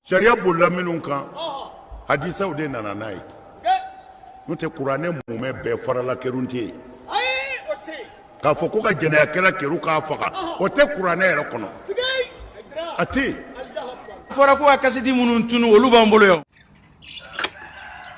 Sariya bolila minnu kan hadisaw de nana n'a ye n'o tɛ kuranɛ mumɛ bɛɛ farala kerun tɛ yen k'a fɔ ko ka jɛnɛyakɛla kerun k'a faga o tɛ kuranɛ yɛrɛ kɔnɔ a tɛ yen fɔra ko ka kasidi minnu tunu olu b'an bolo yan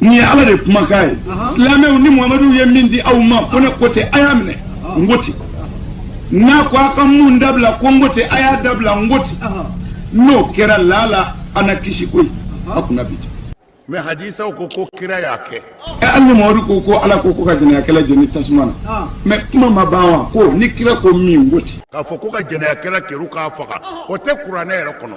Nin ye ala de kumakan ye silamɛw ni muhamadu ye min di aw ma ko ne ko ten a y'a minɛ n ko ten n'a ko a ka mun dabila ko n ko ten a y'a dabila n ko ten n'o kɛra lala an na kisi koyi a kunna bi ten mɛ hadisaw ko ko kira y'a kɛ ɛ hali ni mamadu ko ko ala ko ko ka jɛnɛyakɛla jeni tasuma na mɛ kuma ma ban wa ko ni kira ko min n ko ten k'a fɔ ko ka jɛnɛyakɛla kerun k'a faga o tɛ kuranɛ yɛrɛ kɔnɔ